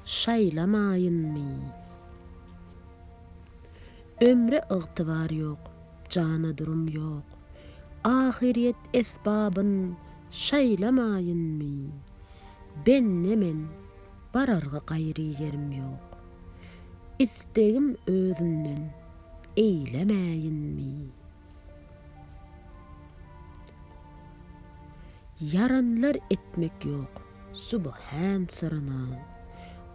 Şaýlamaýynmy? Ömre ygtybar ýok, jana durum ýok, Ahyryýet esbabyn şaýlamaýynmy? Bende men bararga gaýry ýerim ýok, Istegim özümden eýlemäýinmi? Ýaranlar etmek ýok, subhan syrana.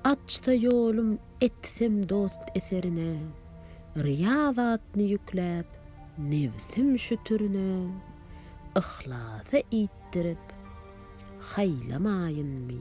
Açsa ýolum, etsem dost eserine. Ryýa zatny ýükläp, nebsim şütürine. Yhlasa iýtdirip, haýlamaýynmy?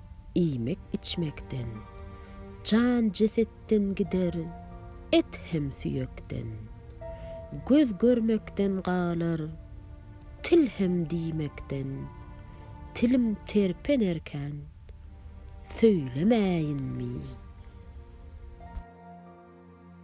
iýmek-içmekden, Jan jesetden gider, et hem süýekden. Göz görmekden galar, til hem diýmekden, Tilim terpenerkän, söýlemäýinmi?